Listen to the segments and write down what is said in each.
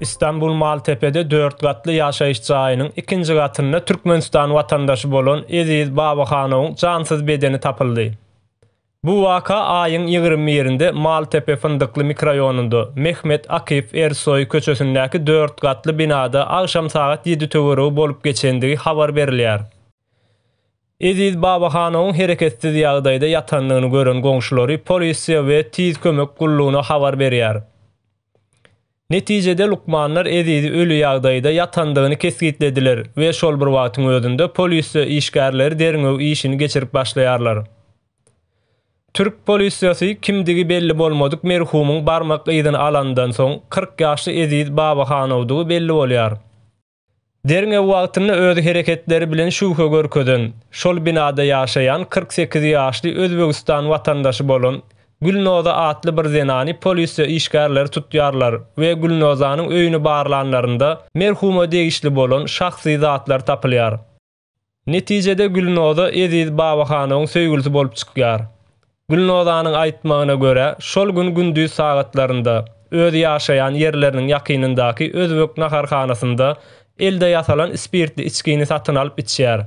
Istanbul Maltepede dört gatly ýaşaýyş jaýynyň ikinji gatynda Türkmenistan watandaşy bolan Eziz Babaxanowyň jansyz bedeni tapyldy. Bu waka aýyň ýigrimi birinde Maltepe Fyndykly mikroýonunda Mehmet Akif Ersoý köçesindäki dört gatly binada agşam sagat ýedi töweregi bolup geçendigi habar berilýär. Eziz Babahanowyň hereketsiz ýagdaýda ýatandygyny gören goňşulary polisiýa we Tiz kömek gullugyna habar berýär. Netijede lukmanlar Ezizi öli ýagdaýda ýatandygyny kesgitlediler we şol bir wagtyň özünde polisiýa işgärleri derňew işini geçirip başlaýarlar. Türk polisiýasy kimdigi belli bolmadyk merhumyň barmak yzyny alandan soň, kyrk ýaşly Eziz Babahanowdygy belli bolýar. Derňew wagtynda öz hereketleri bilen şübhe görkezen, şol binada ýaşaýan kyrk sekiz ýaşly Özbegistan watandaşy bolan Gülnoza atly bir zenany polisiýa işgärleri tutýarlar we Gülnozanyň öýüni barlanlarynda merhuma degişli bolan şahsy zatlar tapylýar. Netijede Gülnoza Eziz Babahanowyň söýgülisi bolup çykýar. Gülnozanyň aýtmagyna görä, şol gün gündiz sagatlarynda öz ýaşaýan ýerleriniň ýakynyndaky özbek naharhanasynda elde ýasalan spirtli içgini satyn alyp içýär.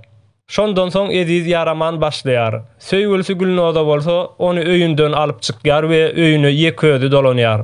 Şondan soň Eziz ýaraman başlaýar. Söýgülisi Gülnoza bolsa ony öýünden alyp çykýar we öýüne ýeke özi dolanýar.